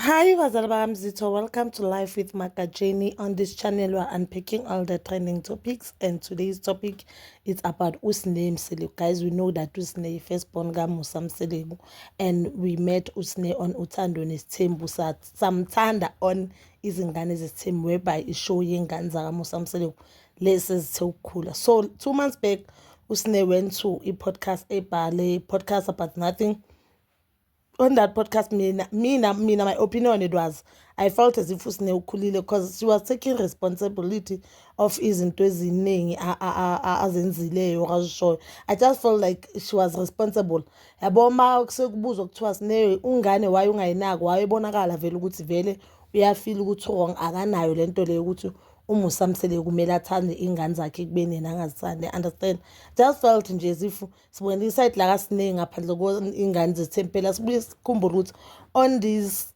Hi bazali bamzitho welcome to life with Magajeni on this channel we are unpacking all the trending topics and today's topic is about Usne Mseleku guys we know that Usne first born ka Musa Mseleku and we met Usne on Uthando Nesithembu samthanda on izingane zesithembu whereby ishow yengane zaka Musa Mseleku lesi zithe ukukhula so two months back Usne went to a podcast a podcast about nothing on that podcast mina mina mina my opinion it was i felt as if usine ukhulile because she was taking responsibility of izinto eziningi azenzileyo okazishoyo i just felt like she was responsible yabo uma sekubuzwa kuthiwa sine ungane waye ungayinaki waye bonakala vele ukuthi vele uyafila ukuthi wrong akanayo le nto leyo ukuthi umusamsele kumele athande iy'ngane zakhe ekubeni yena angazithandi understand just felt nje as if sibonela isayidi lakasiningi ngaphandle kwey'ngane zethempela sibuye sikhumbule ukuthi on these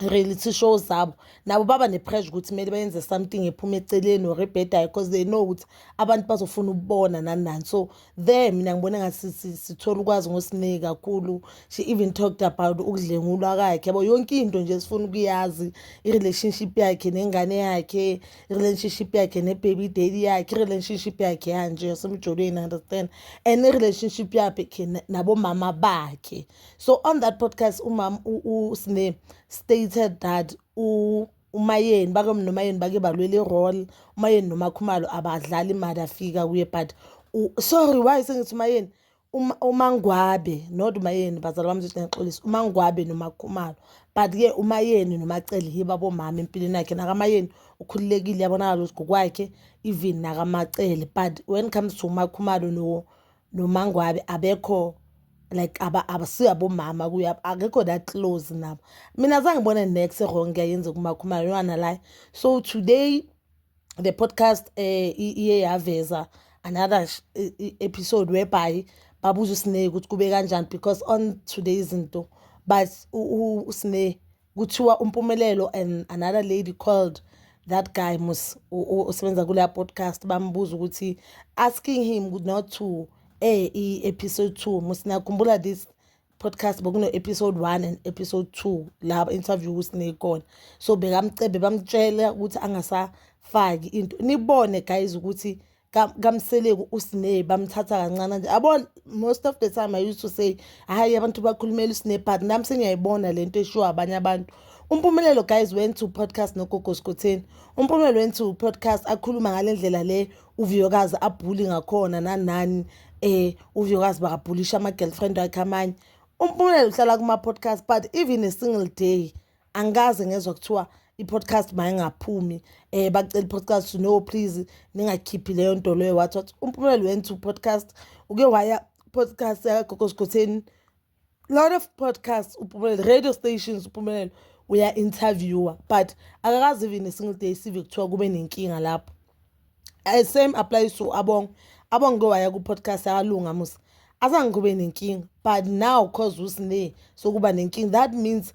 reality show zabo nabo baba ne-pressure ukuthi kumele bayenze something ephuma eceleni or ebhedayo because they know ukuthi abantu bazofuna ukubona nanani so there mina ngibona ngathi sithola ukwazi ngosineki kakhulu she even talked about ukudlengulwa kakhe yabo yonke into nje sifuna ukuyazi i-relationship yakhe nengane yakhe i-relationship yakhe ne-baby daddy yakhe i-relationship yakhe yanje yasemjolweni understand and i-relationship yakhe nabomama bakhe so on that podcast umama usine stated that umayeni bake nomayeni bake balwela i-role umayeni nomakhumalo abadlali imali afika kuye but sorry why sengithi umayeni Uma- umangwabe not umayeni bazali bami zothi ngixolisa umangwabe nomakhumalo but-ke umayeni nomacele yibo abomama empilweni yakhe nakamayeni ukhululekile yabonakala ukuthi ngokwakhe even nakamacele but when it comes to umakhumalo no- nomangwabe abekho like aba- abasiyo abomama kuye ab- akekho that close nabo mina zange ngibone nex wrong yayenze kumakhumalo nalaya so today the podcast eh iye yaveza another sh- e- e- episode whereby babuza uSne ukuthi kube kanjani because on today izinto but u- u- uSne kuthiwa umpumelelo and another lady called that guy mus o- o- osebenza kuleya podcast bambuza ukuthi asking him not to eh i episode 2 musinakhumbula this podcast bokuno episode 1 and episode 2 la interview kusine kona so bekamcebe bamtshela ukuthi angasafaki into nibone guys ukuthi kamseleku usine bamthatha kancane nje abon most of the time i used to say hayi abantu bakhulumela usine but nami sengiyayibona lento eshiwa abanye abantu umpumelelo guys went to podcast nogogo skotheni umpumelelo went to podcast akhuluma ngalendlela le uviyokazi abhuli ngakhona nanani eh uviyokazi bakabhulisha ama-girlfriend wakhe amanye umpumelelo uhlala kuma-podcast but even a single day angikaze ngezwa kuthiwa i-podcast mayingaphumi um eh, bacela i-podcast no please ningakhiphi leyo nto leyo wathi wathi umpumelelo went to podcast uke waya podcast yakagogo sigotheni lot of podcasts uphumelele radio stations uphumelele uya-interviewer but akakazi even a single day sive kuthiwa kube nenkinga lapho eh, same applies to abong abong ke waya ku-podcast yakalunga musa azange kube nenkinga but now cause usine sokuba nenkinga that means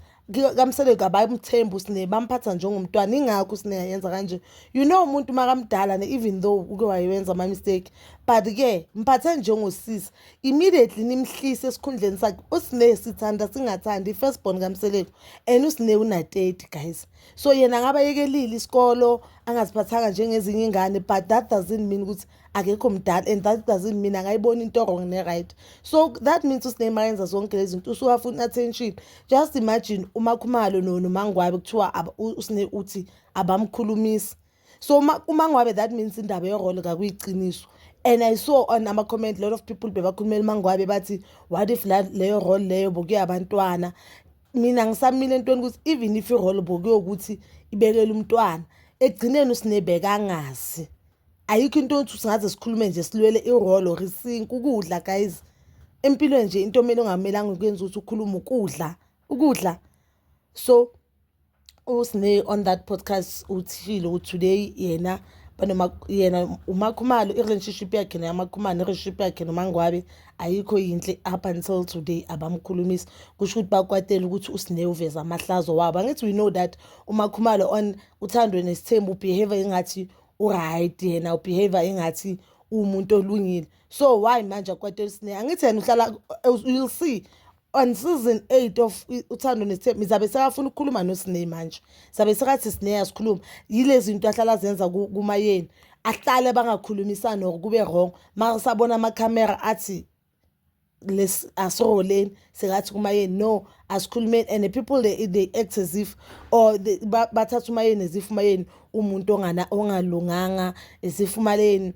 kamsele kabayimthembi usine bamphatha njengomntwana ingakho usine yayenza kanje you know umuntu makamdala ne even though uke wayenza ama mistake but ke mphathe njengosisi immediately nimhlise esikhundleni sakhe usine sithanda singathandi first born kamseleku and usine una 30 guys so yena ngaba yekelile isikolo angaziphathanga njengezinye ingane but that doesn't mean ukuthi akekho mdala and that doesn't mean angayibona into wrong ne-right so that means usineymar yenza zonke lezi zinto usuwafuna attention just imagine umakhumalo nomangwabe kuthiwa usine uthi abamkhulumisi so umangwabe that means indaba yorole kakuyiqiniso and i saw on ama-comment lot of people bebakhulumela umangwabe bathi what if leyo role leyo bokuye abantwana mina ngisamile entweni ukuthi even if irole bokuyokuthi ibekele umntwana ekugcineni usinebeka angazi ayikho into othi singaze sikhulume nje silwele irole or isink ukudla guys empilweni nje into omele ongamelanga ukuyenza ukuthi ukhulume ukudla ukudla so usine on that podcast uthile ukuthi today yena banoma yena umakhumalo i-relationship yakhe neyamakhumalo ne-relationship yakhe nomangwabe ayikho yinhle up until today abamkhulumisi kusho ukuthi bakwatela ukuthi usine uveza amahlazo wabo angithi we know that umakhumalo on uthandwe nesithembu ubehavior engathi uright yena ubehavior engathi umuntu olungile so why manje akwate usine angithi yena uhlala you'll see on season 8 of uthando nesithembu ngizabe sekafuna ukukhuluma nosine manje sabe sekathi sine yasikhuluma yilezi zinto ahlala zenza kumayeni ahlale bangakhulumisani or kube wrong masabona ama camera athi lesi asiholeni sengathi kumayeni no asikhulumeni and the people they, they act as if or they, ba, bathatha umayeni as if umayeni umuntu ongana ongalunganga as if umaleni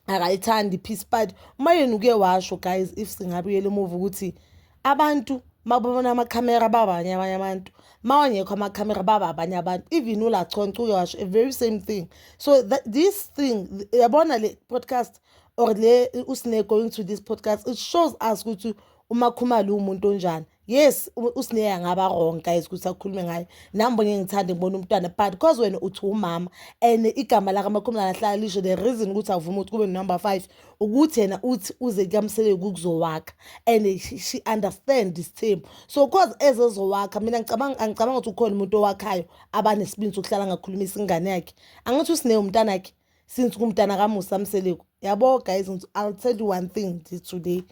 akayithandi peace party umayeni uke washo guys if singabuyela emuva ukuthi abantu mababona amakhamera babanye abanye abantu mawangekho amakhamera baba abanye abantu even ulaconce uke washo a very same thing so that, this thing yabona le podcast or le usine going to this podcast it shows us ukuthi umakhumalo umuntu onjani yes usine angaba wrong guys ukuthi akhulume ngaye nami bonye ngithande ngibona umntwana but because wena uthi umama and igama la kamakhumalo ahlala lisho the reason ukuthi avuma ukuthi kube number 5 ukuthi yena uthi uze kamsele ukuzowakha and she understand this team so because ezozowakha mina ngicabanga angicabanga ukuthi ukhona umuntu owakhayo abanesibindi sokuhlala ngakhulumisa ingane yakhe angithi usine umntana yakhe since kumntana kamusa mseleku yabo guys i'll tell you one thing today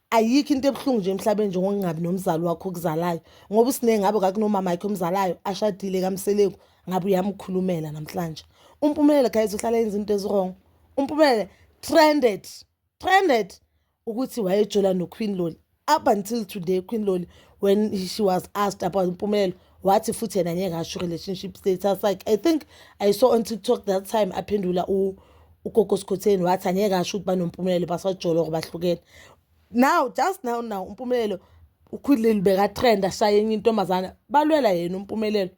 ayikho into ebuhlungu nje emhlabeni njengokungabi nomzali wakho okuzalayo ngoba usiningi ngabe kakunomama yakhe omzalayo ashadile kamseleku ngabe uyamkhulumela namhlanje umpumelelo guys uhlala yenza into eziwrong umpumelelo trended trended ukuthi wayejola noQueen Loli up until today Queen Loli when she was asked about Mpumelelo wathi futhi yena ngeke asho relationship status like I think I saw on TikTok that time aphendula u ugogo Sikhotheni wathi angeke asho ukuthi banompumelelo basajolo ngobahlukene now just now now umpumelelo ukhulile beka trend ashaya enye intombazana balwela yena umpumelelo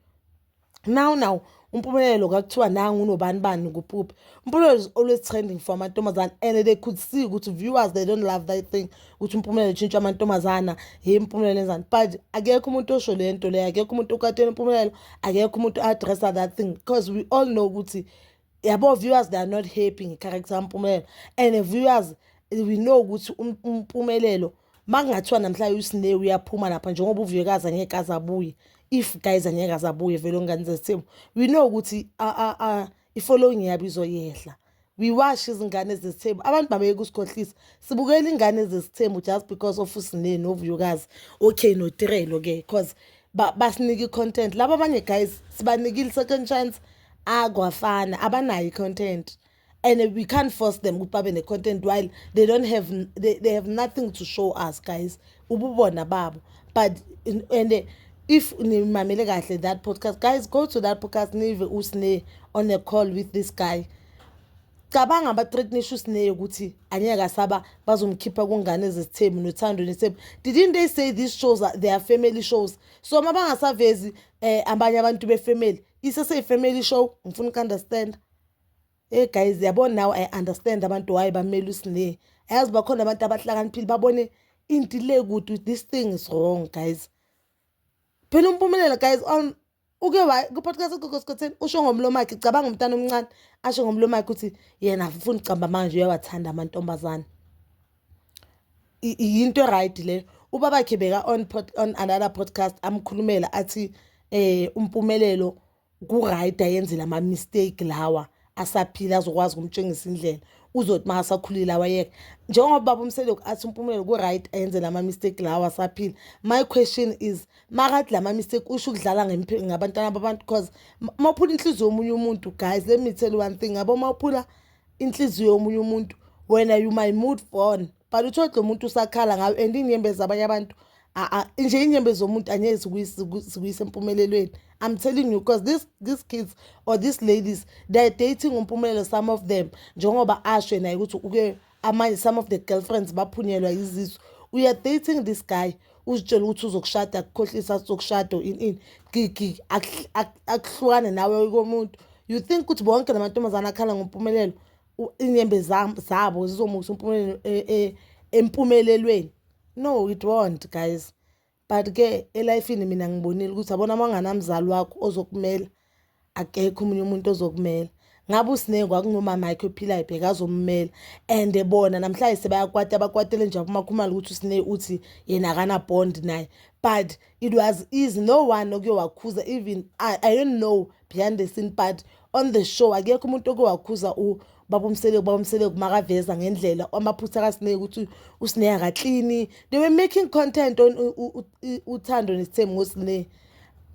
now now umpumelelo kakuthiwa nangu unobani bani kupuphi umpumelelo is always trending for amantombazana and they could see ukuthi viewers they don't love that thing ukuthi umpumelelo utshintsha amantombazana hey impumelelo enzani but akekho umuntu osho le nto leyo akekho umuntu okatela impumelelo akekho umuntu addressa that thing because we all know ukuthi yabo viewers they are not happy ngecharacter kampumelelo and viewers we know ukuthi um, umpumelelo makungathiwa namhlanje usine uyaphuma lapha njengoba uvuyekazi angeke aze abuye if guys angeke aze abuye vele ongane zesithembu we know ukuthi i-following yabo izoyehla we wash izingane ezizithembu abantu babeyeke usikhohlisa sibukela ingane ezizithembu just because of usineni novuyokazi okay notirelo ke because basinike i-content laba abanye guys sibanikile second chance akwafana abanayo i-content and we can't force them ukuthi babe ne-content while they don't have they, they have nothing to show us guys ububona babo but and if nimamele kahle that podcast guys go to that podcast nive usne on a call with this guy cabanga abathreatnisha usineyo ukuthi anyeke asaba bazomkhipha kungane zesithembu nothando nesithembu didn't they say these shows are their family shows so uma bangasavezi um abanye abantu befamily iseseyi-family show ngifuna uku-understanda hey guys yabo now i understand abantu why bamele usine ayazi bakhona abantu abahlakaniphile babone into le kude this thing is wrong guys phela umpumelelo guys on uke ku-podcast egogosikhotheni usho ngomlomo wakhe cabanga umntana omncane asho ngomlomo wakhe ukuthi yena afuna ucamba manje uyawathanda amantombazane yinto e-right le ubabakhe beka on pod, on another podcast amkhulumela athi eh umpumelelo ku-right ayenzela ama-mistake lawa asaphila azokwazi ukumtshengisa indlela uzothi uma asakhulile awayeke njengoba baba umseloku athi umpumelelo ku-right ayenzela ama-mistake lawa asaphila my question is makathi la ma-mistake usho ukudlala ngabantwana babantu because uma uphula inhliziyo yomunye umuntu guys let me tell you one thing yabo uma uphula inhliziyo yomunye umuntu wena you my mood born but uthole lo muntu usakhala ngayo and inyembe zabanye abantu nje inyembe zomuntu angeke zikuyise empumelelweni i'm telling you because this, these kids or these ladies they're dating umpumelelo some of them njengoba asho naye ukuthi uke amanye some of the girlfriends baphunyelwa yizisu we are dating this guy uzitshela ukuthi uzokushada akukhohlisa athi uzokushada in in gigi akuhlukane nawe komuntu you think ukuthi bonke la mantombazane akhala ngompumelelo inyembe zabo zizomusa umpumelelo e, e, empumelelweni no it won't guys but-ke elifini mina ngibonile ukuthi abona uma unganamzali wakho ozokumela akekho omunye umuntu ozokumela ngabe usineke kwakunomama yakhe ophilayo bheka azommela and bona namhlanje sebayakwata abakwatele nje umakhumalo ukuthi usine uthi yena akanabond naye but it was easy no one oke wakhuza even I, i don't know behind the scene but on the show akekho umuntu oke wakhuza u babomseleku babomseleku makaveza ngendlela amaphutha kasineke ukuthi usine akaklini they were making content on uthando nesithembu ngosine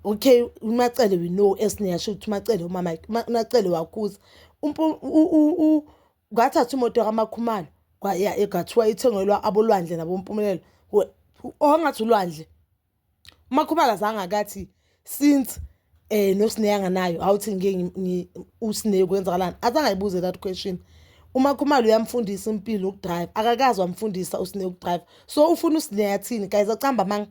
okay umacele we know esineyasho ukuthi umacele umama umacele wakhuza ngathatha imoto kamakhumalo kwaya egathiwa ithengelwa abolwandle nabompumelelo ongathi ulwandle umakhumalo azange akathi since eh nosineya nganayo awuthi ngeke usineya kwenzakalani azange ayibuze that question umakhumalo uyamfundisa impilo ukudrive akakazi wamfundisa usineya ukudrive so ufuna usineya thini guys acamba manga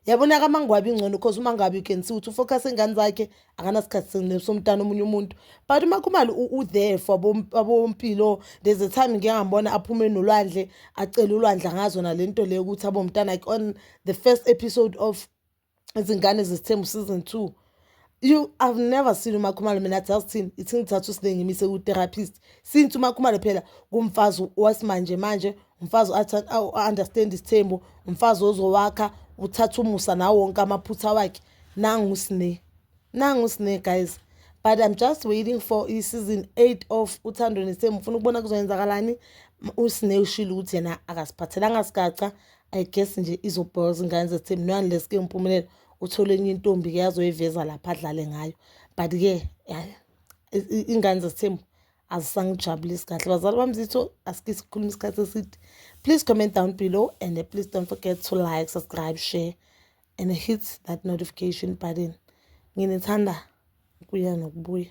yabona kamangwabi ingcono because umangwabi you can see ukuthi ufocus engane zakhe akanasikhathi somntana omunye umuntu but umakhumalo u-there for abompilo there's a time ngike ngambona aphume nolwandle acele ulwandle ngazo nale nto leyo ukuthi abomntana like on the first episode of izingane zesithembu season two you i've never seen umakhumalo mina athi azithini ithi ngithatha usine ngimise ku-therapist since umakhumalo phela kumfazi wasimanje manje umfazi understand isithembu umfazi ozowakha uthatha umusa nawo wonke amaphutha wakhe nangu usine nangu usine guys but i'm just waiting for i-season eight of uthando nesithembu ngifuna ukubona kuzoyenzakalani usine ushile ukuthi yena akasiphathelanga sigaca i guess nje izobhola zingane zesithembu noyani leske ngiphumelela uthole enye intombi ke azoyiveza lapha adlale ngayo but ke ingane zesithembu azisangijabulisi kahle bazali bami zitho asike sikhulume isikhathi eside please comment down below and uh, please don't forget to like subscribe share and hit that notification button nginithanda kuya nokubuya